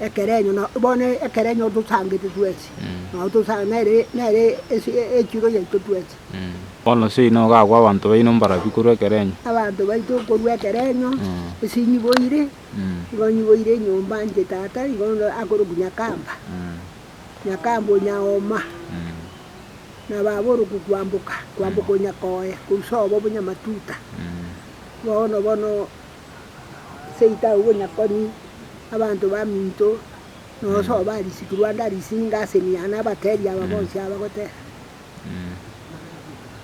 Ekerenyo, na bono ekerenyo otosangete twensi, na otosangete nere, nere echiro yaito twensi. Bono nse ino ogakwa abanto baino mbarabio korwa ekerenyo. Abanto baito korwa ekerenyo, nse inyiboire, nigo nyiboire enyomba inche tata igo akorokwa Nyakamba, Nyakamba o Nyaoma, na baba orokwa Kwamboka, Kwamboka o Nyakoye, korwa sobo buna Matuta. Bono bono. Seita obonyakoni, abanto baminto, nosoe ba risiku Rwanda risinga ase emiana abatebie aba bonsi abagoteba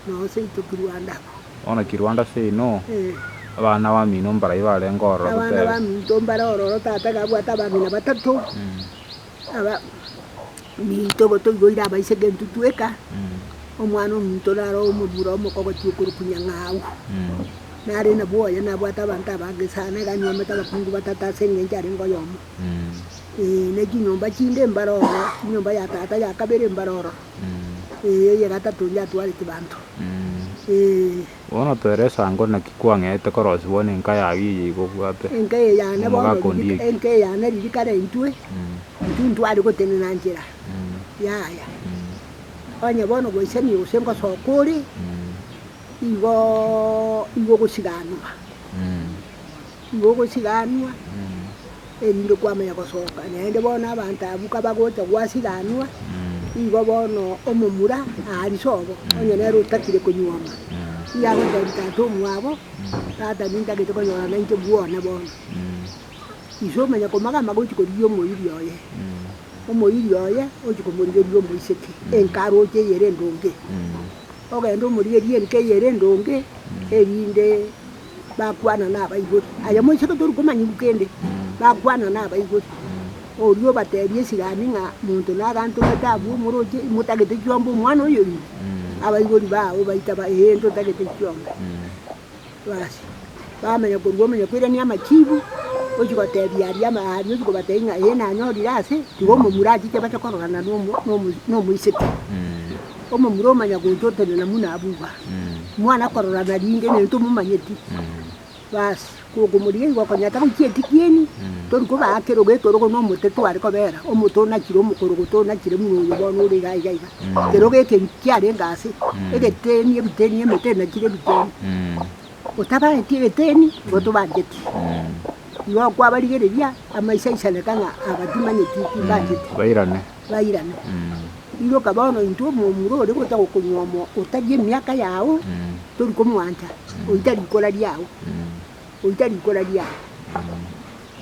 noo seito ki Rwanda abwo. Bono ki Rwanda seino abana bamino mbarai barenge ororo gutebe. Abana baminto mbare ororo tata gabwate abamina batato Abaminto gotoiboire abaise gento tweka, omwana ominto naro omobura omoko ogochia okorokwa nyang'au. Nare nabwo oye nabwate abanto abange sana, iga anywomete abakungu batato ase engencho arenge oyomo. Ee, ne chinyomba chinde mbare ororo, enyomba ya tata ya kabere mbare ororo, ee, eye gatato inche atwarete banto, ee. Bono toera esango naki kwang'eete korosibwa nenka yao eye igobwate omogaka ondieki. Enka eyane ririkana intwe, intwe ntware gotenena nchera yaya. Onye bono goisania gose ngosoka ore, igo igo ogosiganwa. Nigo ogosiranwa, erinde kwamanya gosoka naende bono abanto abwo kabagocha gwasiranwa, nigo bono omomura arise obo, onye nere otakire konyuoma, nigo agotebia tata omwabo, Tata nintagete konyora nainche bwone bono. Ise omanya komaga amaga ochia korigia omoiri oye, omoiri oye ochia komorigeria omoiseke enka aroche eye ere endonge, ogende omorigerie enka eye ere endonge erinde. bakwana nabaibori, aye moiseke tori komanya bu kende, bakwana nabaibori. Oria obateebia esirani ng'a monto nagantomete abwo omoroche, imotagete chiomba omwana oyo ime, abaibori baao baita ba ee ntotagete chiomba. Basi bamanya korwa omonyakoirania amachiibu, ochia goteebia aria ama aria ochia kobateebia ng'a ee nanyorire ase, tiga omomura achiche bache kororana nomo nomo nomoiseke. Omomura omanya gocha otenena muna abwo iga, mwana akorora narinde nento omomanyeti. Basi, kokomorigia igo okonyata goichia etikieni, tori kobaa kero gekerogo na omote tware kobera, omote onachire omokorogoto onachire muna oyo bono ore iga iga iga. Kero gekeri kiarenge ase, egeteni ebiteni emete enachire ebiteni. Otabaeti egeteni, igo tobancheti. Igo kwabarigereria, amaiso aisaneka ng'a aba timanyeti, timbancheti. Bairane. bairane. Iroka bono intwe omomura ore gocha gokonywa omo otari emiaka yao tori komwancha, oita rikora riao, oita rikora riao.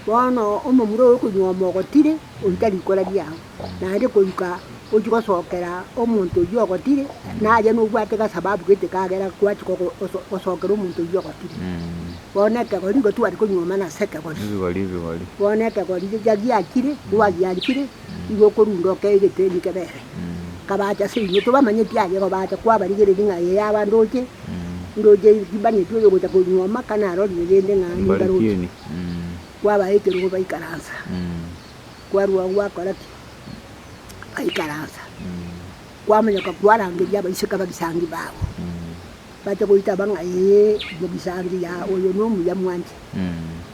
Bono omomura ore okonywa omo ogotire oita rikora riao, naende koruka ochie gosokera omonto oyio ogotire naye nobwate gasababu gete kagera gwachi gogo goso gosokera omonto oyio ogotire. Bono ekegori igo twari konywa mana ase ekegori. Bono ekegori riria giakire, rwagiakire. Nigo okorunda okee egeteni kebere, kabacha ase inwe, tobamanyeti aye igo bacha, kwabarigereria ng'a aye yaba ndoche, ndoche ribang'eti oyo ogocha konywa amaka narorire rende ng'a nimbaroche. Kwabaha ekerogo baikaransa, kwarua agwo bakora ki? Baikaransa. Kwamonyoka kwarangeria abaiseke abagisangi babo, bacha goitaba ng'a ee, mogisangi, ya oyo nomuya mwanche.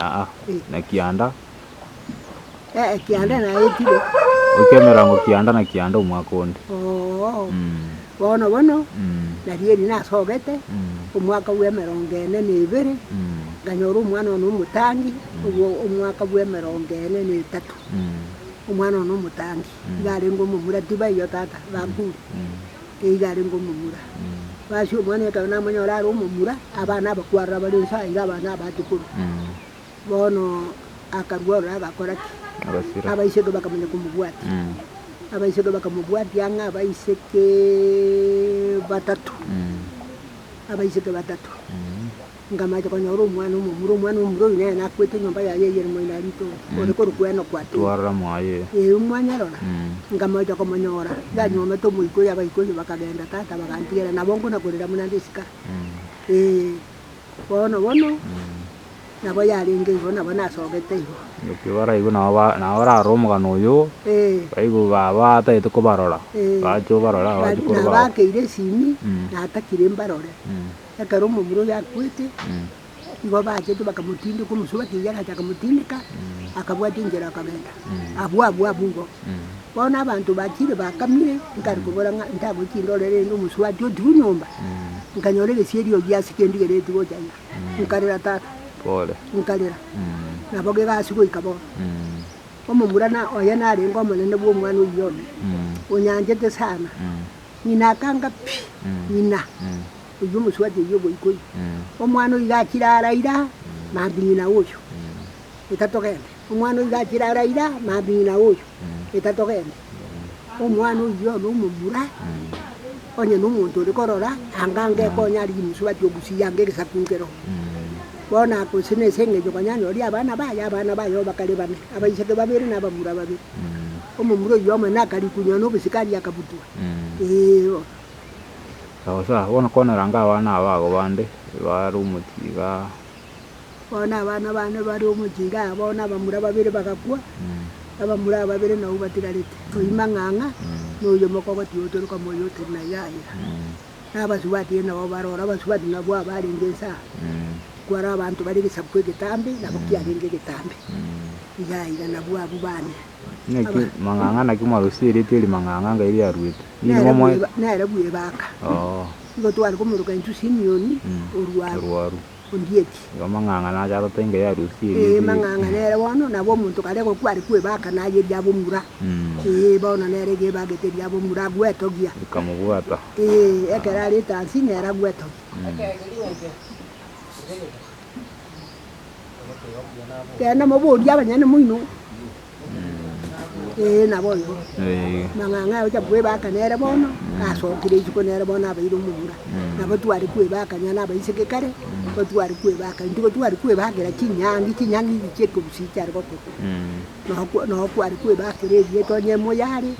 Aa, na kianda, Eh, kianda naetire. okia emerango kianda na kianda omwaka onde. Oo, Mm, bono bono mm, narieri nasogete mm, omwaka bwa emerongo ene na ebere, mm, nkanyora omwana one omotangi, obwo omwaka bwa emerongo ene na etato. mm, Omwana one omotangi, iga arenge omomura tiba eyio tata, bakure. mm. Eiga arenge omomura. Basi omwana ekero namonyora are omomura, abana abakwarora bare inse aye, iga abana abaate korwa. Bono akarua ororo agakora ki? Agasira. Abaiseke bakamanya komobwatia. Abaiseke bakamobwatia ang'e abaiseke batato. Abaiseke batato. Ngamache konyora omwana omomura, omwana omomura oyio nere nakwete enyomba yaye eye ere moino arite oo, ore korokwa Enoku ati, Twarora mwaye. Ee, mwanyarora? Ngamacha komonyora, yanyuomete omoika oyio, abaika oyio bakagenda, tata bagantigera, nabo nkona korera buna nde esika. Ee, bono bono, nabo yarenge igo, nabo nasogete igo. Ekio baraigwe nabo ba, nabo bararora omogano oyio, Ee, baigu ba, batagete kobarora, ee, bachia obarora, ba- bachi na koroba. bakeire esimi, natakire mbarore. Ekero omomura oyio akwete, nigo bachete bakamotindeka, omosuba akeiyo agacha akamotindeka, akabwata enchera akagenda. Abwo abwo abwo igo. Bono abanto bachire bakamire, nkare kobora ng'a ntagochie ndorere rende omosuba aria otigwe nyomba, nkanyora egesieri oyio ase egendigere etigwe gocha ira. Nkarera tata, nkarera, nabo kegasi goika bono. Omomura na oye narenge omonene bw'omwana oyio one, onyanchete sana. Ng'ina akanga, Pi, ng'ina, oyio omosubati oyio ogoika oyio, omwana oyio iga achire ara ira, maambia ng'ina oyio, eka togende, omwana oyio iga achire ara ira, maambia ng'ina oyio, eka togende. Omwana oyio one omomura, onye na omonto ore korora, anga angeke onye arigie omosubati ogusie anga egesaku nkero. Bono aka gose na ase eng'encho konya anyorie abana baye, abana baye oo bakare bane, abaiseke babere na abamura babere. Omomura oyio amo na akarikunywa na obosikaria akabutwa. Eeo. Sawa sawa, bono kwana ranga abana aba ago bande bare omochie igaa. Bono abana bane bare omochie igaa, bono abamura babere bagakwa, abamura ababere nao batigarete, oyio mang'ang'a, na oyio omokogoti otoroka moyo otere na yaya. Na abasubati ere nao baroro, abasubati nabwo aba arenge ense aa, kware abanto bare egesaku egetambe, nabo kiarenge egetambe, igaa iga nabwo abwo bane. Naki mang'ang'a naki mwarosire erieta eri mang'ang'a ngai riaruete. Ninyi nere momoe bweba- nere bwebaka Oo. igo tware komoroka intwe Simioni Mm. orwaru Orwaru. ondieti Igo mang'ang'a nacharote ngai arusie Ee, erieta eri. mang'ang'a nere bono nabo omonto kare gokwa are kwebaka naye riabomura Mm. Ee, bono nere iga ebagete riabomura agwetogia Rikamobwata. Ee, ekero arete ansi nere agwetogia. Genda moborie abanyene moino. Ee, naboigo. Eh, Mang'ang'a aya ocha kwebaka nere bono, asokire isiko nere bono abeire omomura. Nabo tware kwebaka nonya na abaiseke kare, nigo tware kwebaka, nigo tware kwebakera chinyangi, chinyangi echi chia ekobusi chiare gokora. mm. Nokwa- Nokware kwebakera erieta onye emoyare,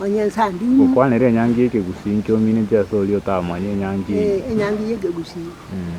onye ensanding'u, Okwanera enyangi y'ekegusi inki omineti ase oria otamanya enyangi eye? eh, enyangi ya ekegusi. Mm.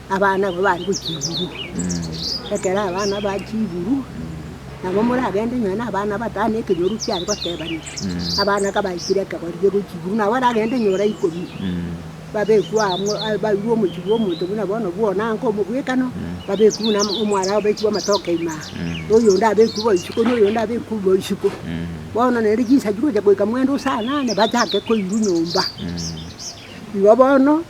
Abana abwo bare gochiburia ekero abana bachiburwa, nabo moragende nonya na abana batano ekenyoru kiare gotebanigwa. Abana kabaikire ekebori gie gochiburwa, nabo baragende nyora ikomi, babekwe amo a- bairwe omochie bwa omonto buna bono bwa one ango omobwekano, babekwe buna amo- omwara abekwe amatoke ime aa, oyonde abekwe bo isiko, na oyonde abekwe bo isiko. Bono naende chinsa chigocha goika mwendo saa nane bachake koirwa nyomba. Igo bono.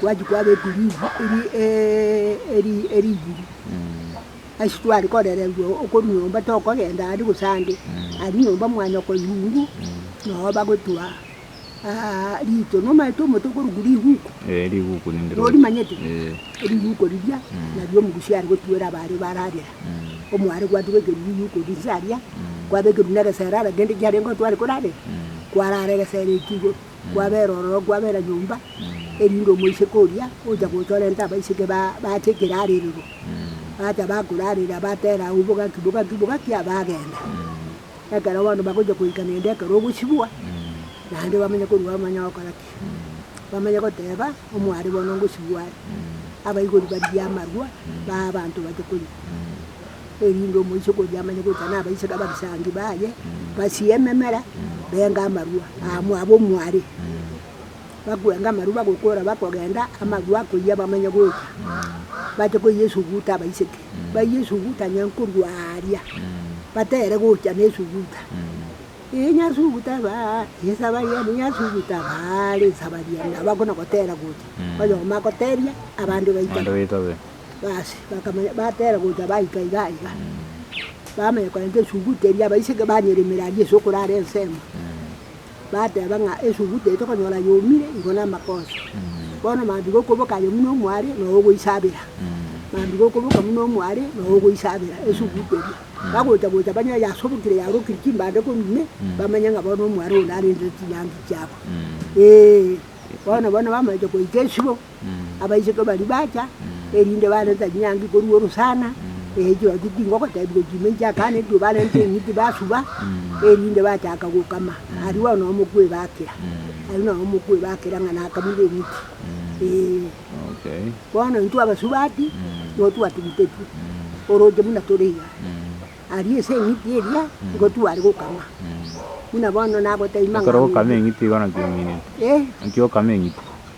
twachia kwaba ebiringi ebi ebibiri. Ase tware korererwa okorwa nyomba tokogenda ande gose ande, aria nyomba mwanyoko nyungu nabo bagotoa rito. Nomanyete omonto okorokwa riguku? Norimanyete? Riguku riria nario omogusia are gotuera abare bararera. Omware gwatubekerwa riguku riria inse aria, kwabekerwa na egesera aragende kiarenge otware korarera, kwarara egesera ekio igo. Kwabera ororo kwabera nyomba, erinde omoiseke oria ocha gocha orente abaiseke ba bache ekerarerero. Bacha bakorarera batera au bogaki bogaki bogaki abagenda. Ekero bono bagocha goika naende ekero ogosibwa, naende bamanye korwa bamanye ogokora ki. Bamanye goteba omware bono ngosibwa are. Abaigori barigie amarwa, bae abanto bache korigwa. erinde omoiseke oria amanye gocha nabaiseke abasangi baye, basie ememera, benge amarua amo abe omware. Bakwenge amarua bagokora bakogenda, amarua akoyia bamanye gocha bache koyia esuguta abaiseke. Bayie esuguta nonye korwa aaria batere gocha na esuguta. Eeh nyasuguta baa esaba yane nyasuguta baa risaba riane nabo akona gotera gocha. Oyomo agoteria abande baitabe. Basi, bakamanya, batera gocha baika iga iga, bamanya korenta esuguta eria, abaiseke banyeremera aria ase okorara ensemo, bateba ng'a esuguta eye tokonyora yomire igoro na amakoso. Bono maambia gokoboka aye buna omware noo ogoisabera, maambia gokoboka buna omware noo ogoisabera esuguta eria. Bagocha gocha banyore yasobokire yarokire chimbando korwa ime, bamanye ng'a bono omware oyo narendire chinyangi chiabo, eeh. Bono bono bamache goika esibo. abaiseke baria bacha, erinde barenta chinyangi korwa orosana, ee chirochio ting'o gotebigwa chime inche akana erio barenta eng'iti basuba, erinde bachaka gokama, aria bono omokwe ebakera, aria nao omokwe ebakera ng'a nakamire eng'iti, ee. Okay. Bono intwe abasubati, nigo twatugutetwe, oroche buna tore iga, aria ase eng'iti eria, nigo tware gokama, buna bono nagotebia Ekero okama eng'iti igo naki ominete, ee. naki okame eng'iti.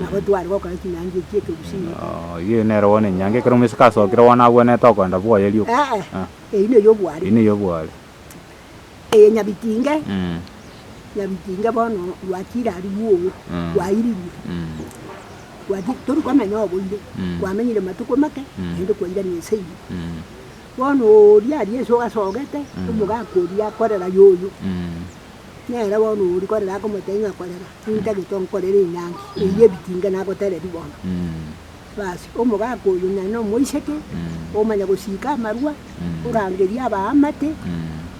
Nabo tware gokora chinyangi echi ekegusii gete. Eye nere bono enyangi ekero omoiseke asokire bono agwenerete okoenda bwoye rioka. Ee, Ah. eye ne ey'obwari. Eye ne ey'obwari. Eye Nyabitinge, Mm. Nyabitinge bono rwachire aria bwogo, Mm. rwairirwe. Mm. Rwati tori komenya oboire, Mm. kwamenyire matuko make, Mm. naende kwairania ense eye. Mm. Bono oria aria ense ogasogete, Mm. omogaka oria akorera yoyo, Mm. nere bono oria korera akomotebia ng'a korera. Nintagete onkorere enyangi eyio ebitinge nagotereria bono. Basi, omogaka oyio nonya nomoiseke, omanya gosiika amarwa, orangerie abaamate,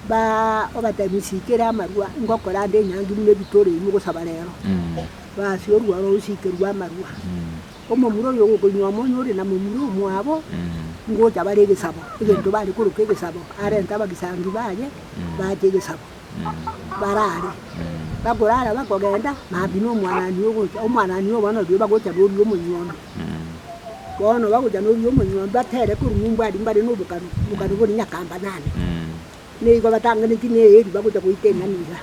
ba obatebie nsiikere amarwa, ngokora ande enyangi buna ebitore imwe gosaba rero. Basi orua oro osiikerwe amarwa. Omomura oyio ogokoinwa amo onye ore na momura omwabo, ngocha bare egesabo, egento bare koroka egesabo, arente abagisangi baye, bache egesabo. barare, bakorara bakogenda, maambia na omwanani oyo ogocha, omwanani oyo bono rirorio bagocha na oria omonyuomi. Bono bagocha na oria omonyuomi batere korwa nyomba aria mbare na obokanu, obokanu boria nyakamba nane. Nigo batangeretie na eeri bagocha goita eng'ani iga,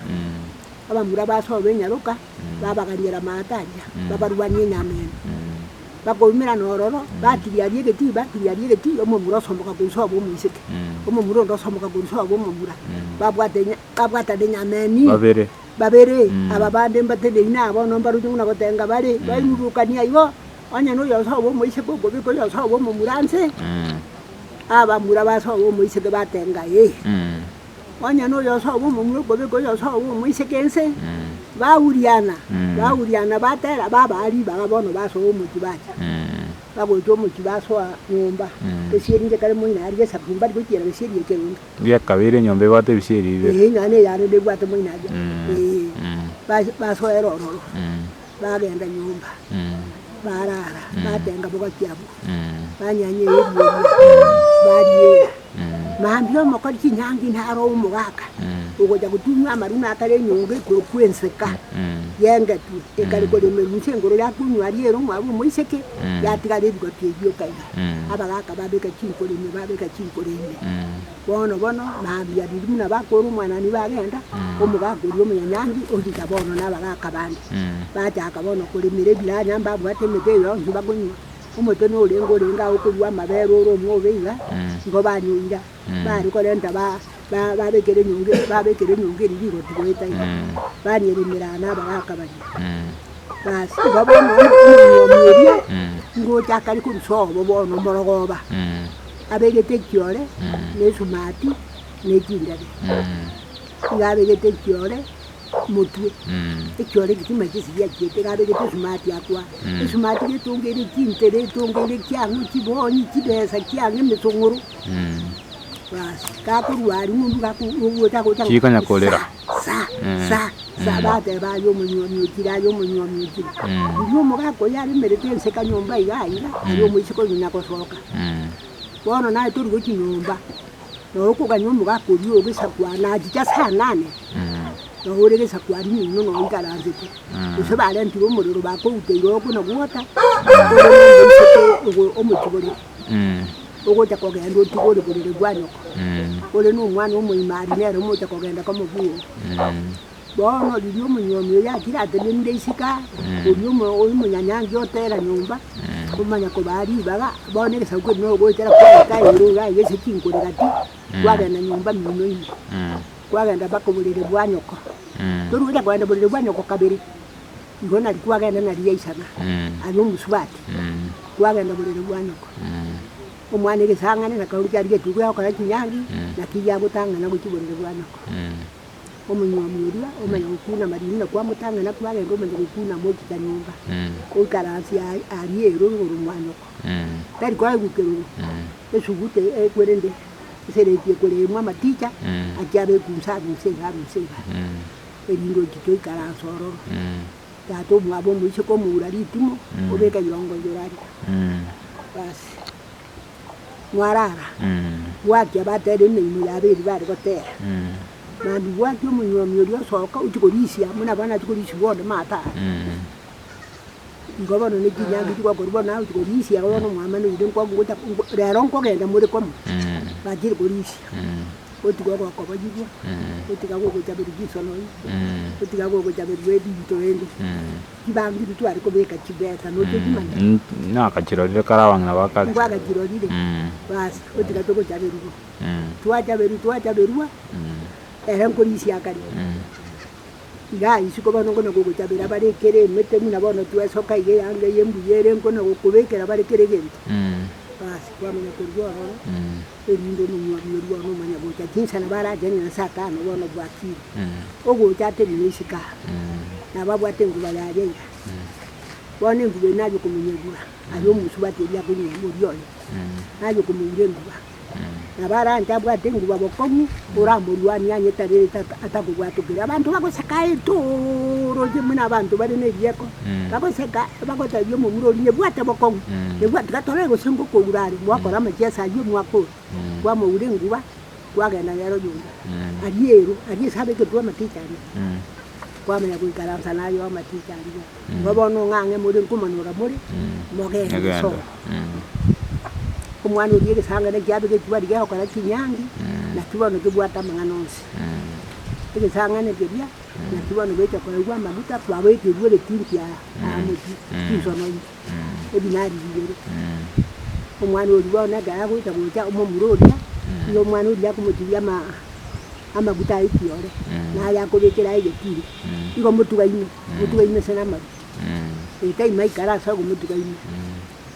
abamura basoa ba enyaroka. babaganyere amaato aria, babarwanie enyameno, bakoumera nororo, batiria aria egetui, batiria aria egetui, omomura osomoka korwa sobo omoiseke, omomura onde osomoka korwa sobo omomura, babwate enya- babwatana enyameno ime. Babere. Babere, aba bande mbaterie ime aa bono mbaruche buna gotenga bare, bairurukanie igo, onye na oyo osoe obe omoiseke okobeka oyo osoe obe omomura nse, abamura basoe obe omoiseke batenga ee. Onye noyo osoa bw'omomura obobe ngoyo osoa bw'omoiseke ense, baguriana, baguriana, batera, babaa ribaga bono basoa omochie bacha. Bagocha omochie basoa nyomba, ebisieri inche kare moino aria esaku mbari gochiera ebisieri ekerondo. Eria kabere enyomba ebwate ebisieri bibere. Ee, nonya neyarenge ebwate moino aria, ee, basoera ororo. Bagenda nyomba, baraara, batenga bogaki abwo, banyanya ebiria eria, bariera. Mambia omokori chinyangi naro omogaka ogocha gotunywa amaruna akare enyongo igoro kw'enseka y'engetwe ekare koremerwa inse igoro yakunywa aria ere omwabo omoiseke, yatigara ebigoti ebio ekaiga. Abagaka babeka chinkoro ime, babeka chinkoro ime. Bono bono nabiya riria buna bakora omwanani bagenda, omogaka oria omonyanyaangi ogochika bono na abagaka bande. Bachaka bono koremera ebiranya mbabwate emete eye yonsi bakonywa. Omote norenge orenge agwo okorua amabere ore omwobe iga, nigo banyoira. Bare korenta ba- ba- babekera enyongo eri- babekera enyongo eria rigoti goeta iga, barieremera aa na abagaka baria. Baas igo bono omonywani oria ngocha akare korusia obo bono omorogoba. abegete ekiore na esumati na echindebe. Iga abegete ekiore motwe, ekiore egetima chisiya chiete, iga abegete esumati akwa, esumati getongeire chintere, etongeire kiang'o, chibonyi, chibesa kiang'o, emetong'oro. Bas, gakorua aria ng'umbu gaku- gogocha gocha Chikonya korera. Sa, sa, sa, bateba, aye omonywani ochire, aye omonywani ochire. Erio omogaka oyio aremerete enseka nyomba iga aiga, aye omoiseke oyio nyagosoka. Bono naye tori gochia nyomba, nao okogania omogaka oria ogesakwa, na achiche ase anane, nao ore gesakwari ng'umino nao oikaransete. Gose barentire omorero bakouta iga okona gwota, ore nomoiseke ogo omochigori. ogocha kogenda otigore borere bwa nyoko, ore nomwana omoimari nere mocha kogenda komobunga. Bono riria omonyomi oye akire atenemire isiko aye, oria omonyanyangi otera nyomba, omanya kobaa ribaga, bono egesaku keria nero ogoetera kwareta aye ore iga iga ase chinkorera ki, kwagenda nyomba mino ime, kwagenda mpaka oborere bwa nyoko. Tori gocha kogenda oborere bwa nyoko kabere. Igo nari kwagenda na ria isaba aria omosubati, kwagenda oborere bwa nyoko. Omwana egesang'ani na kauriki aria getuguya gokora chinyangi, naki yagotang'ana gochia oborere bwa nyoko. Omonywomia oria omanya gokuna amariri na kwamotang'ana kwagenda omanya gokuna amochika nyomba, oikaransi aria ere igoro mwa nyoko. Tari koegukerorwa esuguta eye korende esereti ekoremwa amaticha achia abekunsa abe inse iga abe inse iga. Eringoji toikare ase ororo. Tata omwabo omoise komoura ritimo obeke yongo yorari basi mwarara bwaki abatera emeimo yabo eri bare gotera mambia bwaki omonywomia oria osoka ochie korisia buna bono achie korisia bonde mataro nigo bono nechinyanga chigokora bono naye ochia korisia bono omwamanoire rero nkogenda more komo bachire korisia. Gotiga ogokoboyigwa, gotiga gogochaberwa chisono igo, gotiga gogochaberwa ebinto bende, chibangiri tware kobeka chibesa nochia ochimanya? Nakachirorire kare abang'ina ba kare. Nkwagachirorire? Basi, gotiga togochaberwa igo. Twachaberwa twachaberwa, ere nkorisia akare. Iga isiko bono nkona gogochabera bare ekero emete buna bono twesoka iga eyanga eye embuya ere nkona gokobekera bare kera egento. Basi kwamanya korwa ororo. erinde Omonyuomi oria one omanyagocha chinsa nabo aragenye na Satana bono obwatire ogocha aterire isiko aa, nabo abwate enguba yaye ira. Bono enguba eye naye okomonyegura, aye omosubati oria akonyia moria oye, naye okomoura enguba. Nabo aranche abwate enguba bokong'u, oramorwanie ang'e tarerete atakobwatokire. Abanto bagosakaete ooroche buna abanto bare nerieko, Bagoseka, bagotebia omomura oria, Nebwate bokong'u, nebwati gatorae gose ngokoura are, mwakora amachie ase ayio, mwakora, kwamoura enguba, kwagenda nere oyonde. Aria ero, aria ase abekeirwe amatichi aria, kwamanya goikaransa naye amatichi aria. Igo bono ng'ang'e more nkomonyora more, mogende soka. Omwana oria egesango ekia abegeirwe aria gekogora kinyangi, naki bono kebwate amang'ana onsi. Egesang'ana keria. Naki bono goika kwaigwa amaguta kwaboeterigwe egetunki aa amochie chinsononyi edinari rigere. Omwana oria bono ekero agoita gocha omomura oria, nigo omwana oria akomotigia ama amaguta aye kiore, na aye akobekera aye egetunki. Igo motugaine, motugaine ase namaguta, ee taimaikara ase ogomotugaina.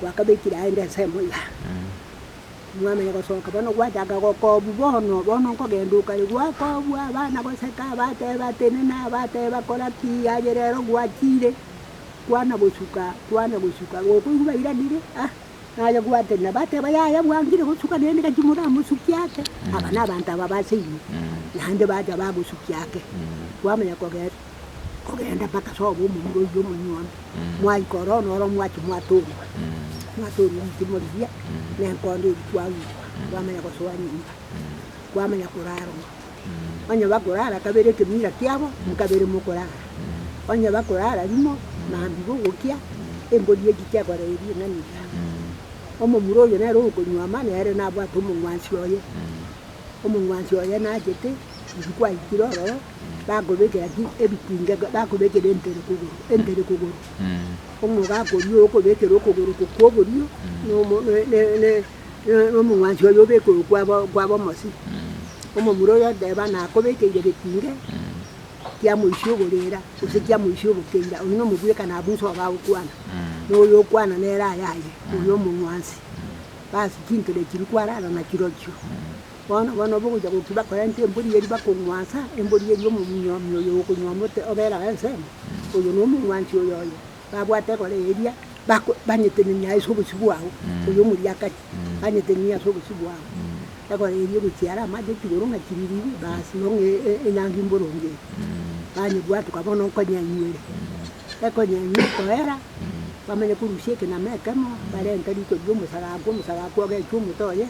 gwakabekire aende ensemo iga, mwamanya gosoka bono gwachaka gokobwa bono, bono nkogenda okare gwakobwa abana goseka abateba tenena abateba kora ki aye rero gwachire kwana gosuka kwana gosuka gokoigwa bairanire ah naye gwatenena bateba yaya bwangire gosuka naende gaki moramosukie ake aba na abanto aba base inwe naende bacha bagosukia ake kwamanya kogenda. kogenda mpaka sobo omonyure oyio omonyuomi, mwaika ororo noro mwachia mwatorigwa, mwatorigwa eritimo riria na enkondo eria kwagigwa, kwamanya gosoa nyomba, kwamanya korarwa. Onye bakorara kabere ekemira kiabo, nkabere mokorara. Onye bakorara rimo, mambia gogokia embori eria chiakora eria eng'ani eria. Omomura oyio nere okonywoma nere nabwate omong'wansi oye, omong'wansi oye nachete, riria kwaikire ororo, bakobekera ki? Ebitinga ga- bakobekera entere kogoro, entere kogoro. Omogaka oria okobekera okogoro oko kw'oborio na omo- ne- ne- ne- ne- na omong'wanso oye obeke oyo kwa bo- kwa bomosi. Omomura oyo oteba nakobekeire getinge kia moisia oborera, gose kia moisia obokeira, oyio na omobwekano abwo nse oba agokwana. Na oyo okwana nere ayaye, oyo omong'wansi. Basi chinkere echiria kwarara na chirochio. Bono, bono obogochia goki bakorente embori eria bakong'wansa, embori eria omominyomi oyo okonywa omote obera ensemo, oyo nomong'wansi oyoyo, babwate egora eria, bako banyetenenia ase obosio bwao, oyo omoriakari, banyetenenie ase obosio bwao, egora eria egochia are amache chigoro ng'a chiririiri, baasi bono e- e- enyangi mboronge eye, banyebwatuka bono nkonyenyuere, ekonyenywa ekoera, bamanye korusia ekenama ekemo, barente riko ri'omosara agwo, omosara agwo ogechwa omote oye,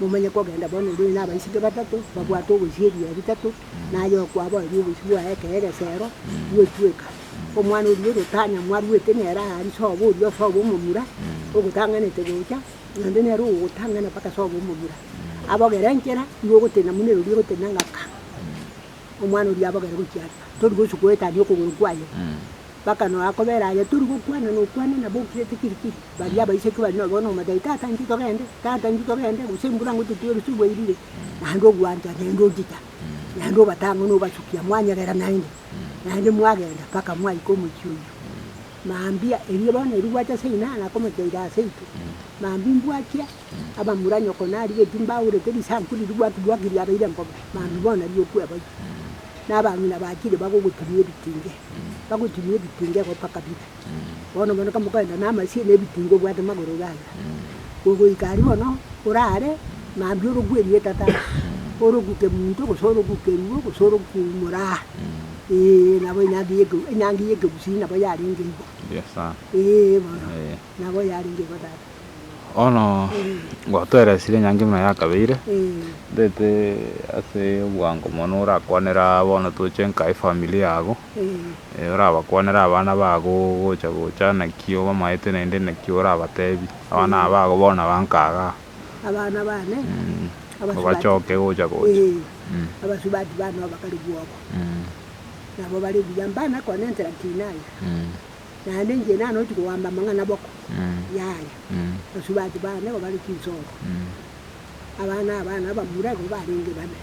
momanye kogenda bono orwene n'abaiseke batato babwate ogochia ebiya bitato, na aye okwabo aria oboichi bwaye ekero egesero gigotweka. Omwana oria ore otanya mwarwete nere aa ase obo oria osoe omomura, ogotang'anete gocha, naende nere ogogotang'ana mpaka soe omomura. Abogere enchera, igo ogotenena buna ere oria ogotenena ng'aka. Omwana oria abogere gochia are, tori gochia goetania okogoro kwaye. Mpaka noo akobera aye, tori gokwana nokwane nabo okirete kiri kiri. Baria abaichorwa bari nabo bono omotebi, tata intwe togende, tata intwe togende, gose embura ngototwere gose obwairire, naende ogwancha naende ochicha, naende obatang'une obachukia mwanyegera naende, naende mwagenda mpaka mwaika omochie oyio. Mambia erio bono erio gwacha ase inana akomocheire ase intwe, mambia imbwakia. abamura nyoko narigetie mbaurete risanku riria gwatubwakirie abaire mbobe mambia bono riokwe abairi na abang'ina bachire bagogotumia ebitinge bagotumia ebitinge gopa kabira bono bono kamo kogenda na amasie na ebitinge obwate magoro gaiga gogoika aria bono orare mambia orokwe erieta tata orokwe kemunto gose orokwe kerugo gose orokwe moraa eeh nabo enyangi ya enyangi ya ekegusii nabo yarenge igo eeh bono nabo yarenge igo tata. Bono gwatoeresire enyangi buna yakabeire, ntaete ase obwango mono orakwanere aa bono toche nka efamiri yago, orabakwanere abana bago ogocha gocha naki obamaete naende naki orabatebi, abana aba bago bono aba nka igaa. Obachoke gocha gocha. Naende inche nane ochi koamba amang'ana boko y'aya, basubati bana nigo bare chinsoro, abana abana abamura igo barenge babe,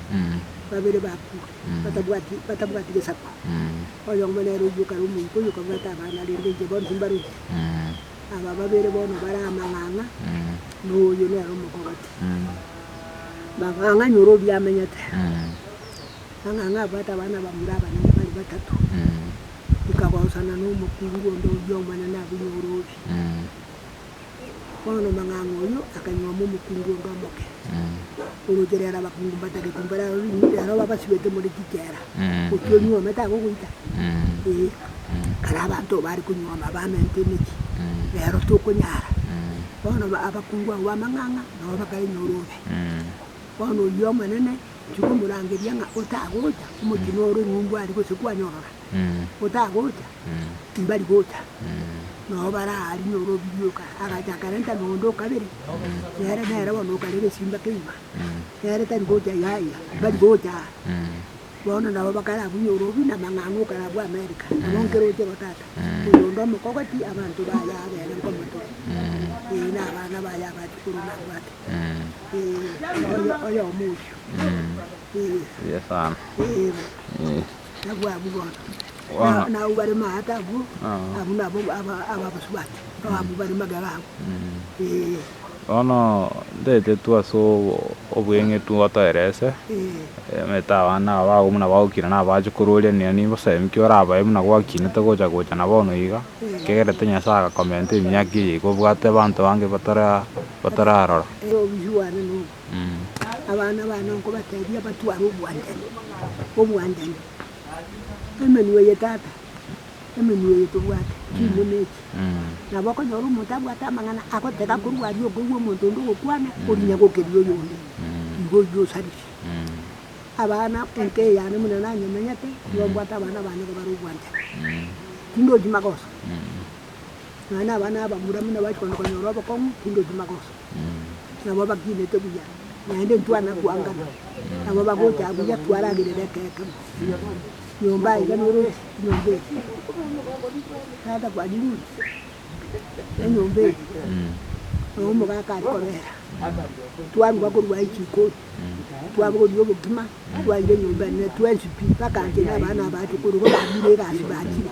babere bakure, batabwati batabwati gesaku. Oyomo nere oyio kare omoika oyio okabwata abana, rende inche bonsi mbaroche. Aba babere bono bare amang'ang'a, na oyio nere omokogoti. Mang'ang'a nyora oria amenyete, mang'ang'a abwate abana abamura abanene bare batato. ikagosana nomokungu onde oyio omonyene abunye oroosi. Bono omong'ang'a oyio akaing'oma omokungu onde omoke orooche, reero abakungu mbatagete imbare aro ring'ana, reero babasibete more chichera, gochia onyuome tagogoita. Ee, kare abanto bare konyuoma bamenete emechie, reero tokonyara. Bono abakungu abwo b'amang'ang'a nabo bakainyora obe. Bono oyio omonene. Tikomorangeria ng'a otagocha, omochenu ore ng'umbu ari gose kwanyorora, otagocha, timbari gocha. Nao baraaria ore obirie oka, agacha akarenta noonde o kabere, nere nere bono okare egesimba ke'ima, nere tari gocha yaya, timbari gocha. Bono nabo bakarabunye ore obi namang'ang'a okarabwa Amerika, nabo nkeroche bo tata, oyonde omokogoti abanto baye abere nkomote, ee, na abana baye abachukuru nabwate. Bono ntaete tu ase obweng'etu ngotoerese, omanyete abana aba abwo buna bagokina nabo bache korwa oria na oria gose inki orabae buna gwakinete gocha gocha na bono iga, ekegerete Nyasae agakomenta emiaka eye iga obwate abanto bange batara. gotorarora. Ere obuya bwane nobo. Abana bane nkobatebia batware obwanchani, obwanchani. Emenwa ye tata, emenwa eye tobwate, chimo nechi. Nabo okonyora omonto abwate amang'ana agotega korwa aria okoigwa omonto onde ogokwana, orinya gokeria oyonde, igo oyio osarisi. Abana enka eyane buna nanyemenyete, nigo mbwate abana bane iga bare obwanchani. Tindochi magoso. Nonya nabana abamuramu nabachia kogenda konyora obokong'u tindi otima gosa. Nabo bakinete buya naende ntwana kwangana. Nabo bagocha buya twaragerera ekeegemu. Nyomba aiga noroche nyomba eye. Tata kwanyirure enyomba eye na omogaka aria kobera. Twaruga korwa aye chikori twabogoria obokima twaira enyomba ere ne twensi pi mpaka inche nabana abaachia koruga bamire egasi bachire.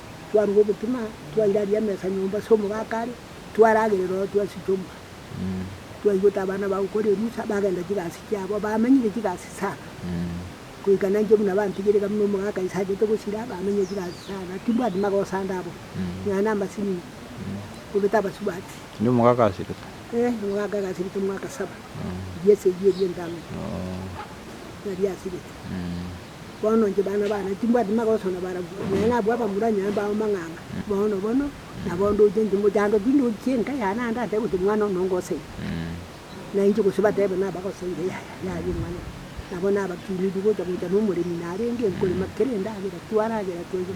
twarua obotima, twairaria emesa nyomba ase omogaka are, twaragerera ororo twasiche omogaka. Twaigwete abana bagokora erusa, bagenda chigasi chiabo, bamenyire chigasi sana, goika nainche buna bantigire iga buna omogaka ise achete gosira, bamenyire chigasi sana, timbwati magosa ande abwo, nonya na amasinini, kobete abasubati. Kende omogaka asirete? Eeh, omogaka iga asirete omwaka saba, riesa erio erio entang'ani, nari asirete. Bono inche bana bane timbwati magoso na barabwo, naye nabwo abamura nyomba ao mang'anga, bono bono nabo ndoche inche mochando ki ndoche enka yane ande atebe gose omwana one ongoseye. Na inche gose batebe nabagoseye yaya yaya omwana one. Nabo nabakiniri gocha gocha na omoremi narenge nkorema kera endagera twaragera twaigwa.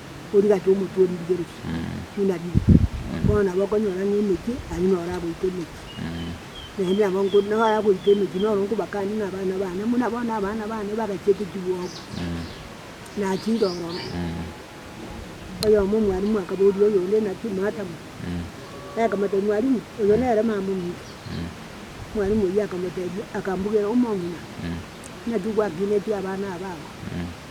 origate omotwe oririgeretie, buna riire. Bono nabo okonyora ng'a emechie aria noro agoita emechie. Naende nabo nko nabo agoita emechie noro nkobakanie ng'a abana bane, buna bono abana bane bagache gotigwa oo, nachire ororo. Oyomo omwalimu akaboria oyonde naki, Madam, akamotebia, Mwalimu, oyo nere mama ominto. Mwalimu oyio akamotebia, akambugera, Omong'ina, naki gwakineti abana aba aba?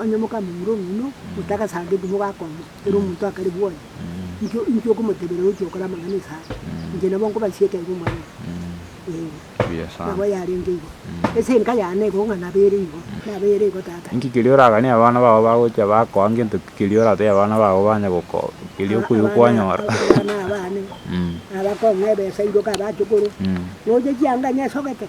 Onye mokamba omura omino otagasangeti mogakonya, ere omonto akare bwoye, inki inki okomotebera oche okore amang'ana esare? Inche nabo nkobachie ekero omorenge. Nabo yarenge igo. Ase enka yane igo ng'a nabere igo, nabere igo tata. Inki keria oraganie abana bao bagochia bakoa ngento ki keria oratebie abana bao banye gokoa keria okoigwa kwanyora? Abana abane, nabakong'a ebesa iroka abachukuru, nonya chianga nesogete.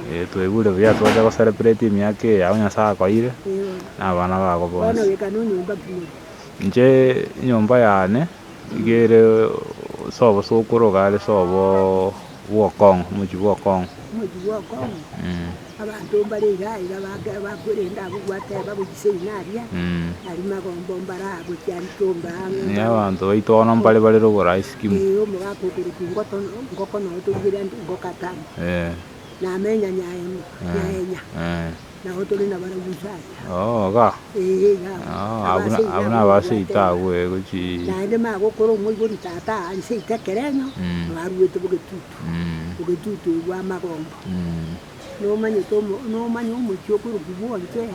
Twaigure buya twacha go celebrate emiaka eye yabo Nyasae akoeire na abana babo bonsi. Inche enyomba yane iga ere sobo sokoro iga are sobo bwa okong'u omochie bwa okong'u. Nigo abanto baito bono mbare bare rogoro ase skimu. namenya nyaemo nyaenya nabo tore nabarabwo inse aya. Oo iga. Ee iga abwo. Oo abwo naba seito agwo ee gochi. Naende magokora omoibori tata aa inse ita ekerenyo nabaruete bogetutu. Ogetutu oyo bwa amagomba. Nomanyete omo nomanya omochie okorokwa bwa onchere.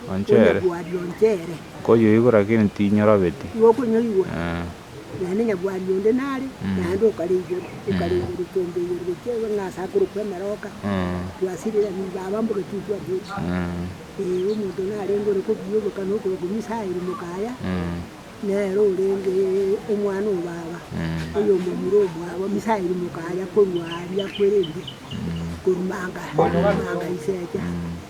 Onchere. Onya bwa rionchere. Koyoigwa lakini tinyora beti. Igo okonyoigwa. Naende nyabwari onde nare, naende okare igoro, okare igoro, ekombe igoro, gochia iga ng'a ase akorokwa emeroka, twasirigani baba mboka titwabua echi. Ee, omonto narenge ore kobiya oboka na okorokwa emesaeri mokaya, nere orenge omwana o baba, oyomomura omwabo, emesaeri mokaya korwa aria akwerente, korumanga, korumanga isecha.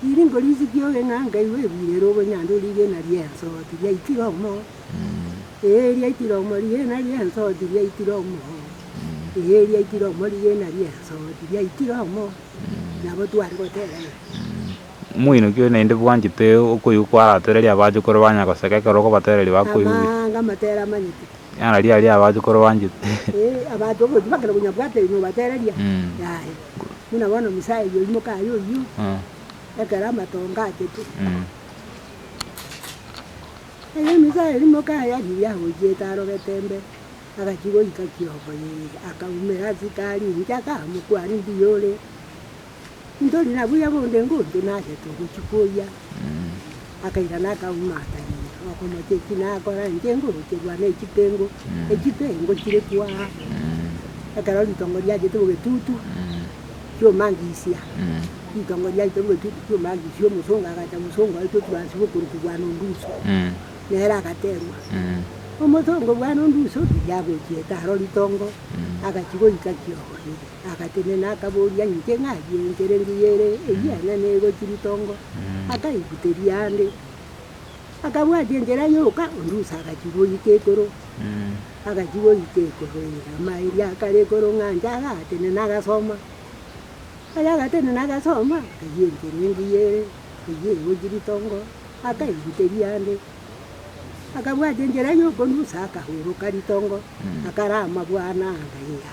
Riringo ri'isikie ogeng'anka igwe egwirere obonyanda origena ri'ense oti riaitire omo, ee, riaitire omo rigena ri'ense oti riaitire omo, ee, riaitire omo rigena ri'ense oti riaitire omo, nabo tware goteebana. Omoinyoki oyo naende bwanchete okoigwa kwaratereria abachokoro banya goseka ekero okobatereria bakoigwa buya. Amanga amatere amanyete. Ng'a riaria abachokoro banchete. Ee, abanto obotuba kera konya bwate nobatereria, yaya. Buna bono omosae oyio oimoke aye oyio, ekero amatongo achetwe. Erio omosae oria oimoke aye ariria ahoichete arogete imbe, agachia goika kiogoyereri, akaumera ase itaari inche, akamokwania, Mbuya ore ntori, na buya bonde ngotwe, nagete ogochia koyia. Akairana akauma atariri, okomocha eki nakora inche ngorocherwa nechitengu, echitengu chire kwo aa, ekero ritongo riachete bogetutu chiomangisia, ritongo riachete bogetutu chiomangisia omosongo agacha omosongo aitwe oturansi bokoruku bwana onduso, nere agaterwa, omosongo bwana onduso riria agochiete aro ritongo, agachia goika kioro. Agatenena, akabooria, Inche ng'ai enkere engiya ere eyia ang'e negochia ritongo? Akaibuteria ande, akabwatia enchera yoka ondusa agachia goika ekoro. Agachia goika ekoro erama eria akare ekoro ng'a anche agatenena agasoma. Aya agatenena agasoma, akayia enkere engiya ere eyia egochia ritongo, akaibuteria ande, akabwatia enchera yoka ondusa akahoroka ritongo, akarama bwango anga eya.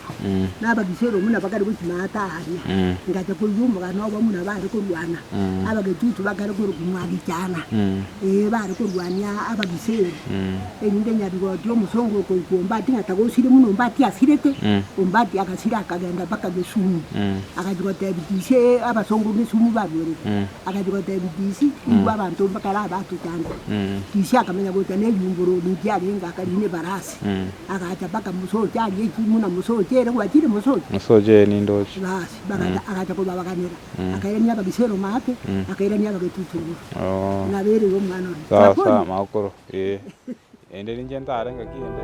na abagisheri omuna bakare gochima ata aria, ngacha koigwa omogano obo omuna bare korwana, abagechuchu bakare korokumwa gechaana, ee, bare korwania abagisheri, erinde nyarigoti omosongo okoigwa Ombati ng'a tagosire buna Ombati asirete, Ombati agasira akagenda mpaka Gesumu, agacha gotebi DC abasongo Gesumu barwerete, agacha gotebi DC igwe abanto bakare abatuchande, DC akamenya gocha na eriumboro riria riarenge akarina ebarasi. agacha mpaka Musochi aria echi buna Musochi ere gwachire Musochi. Musochi eye ninde ochi. Basi bagacha agacha kobabaganera akairania abagisero make akairania abagetutu igoro Oh. nabereire omwana oria. Sawa sawa Nakoria. makoro ee. Ende ninche ntare ngaki ende.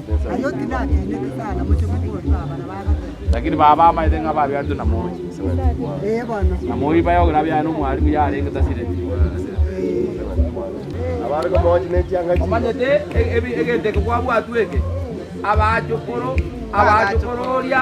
Lakini baba amaete ng'a babiatwe na moi, na moi baye ograbiare nomwarimu yarenge tasireti. Omanyete e- ebi- egento eke kwabwatwe eke, Abachokoro, abachokoro oria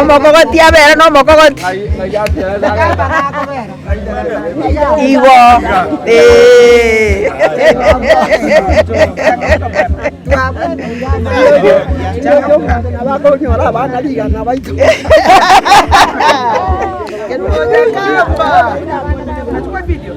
Omokogoti abere nomokogoti. Igo. Eeh.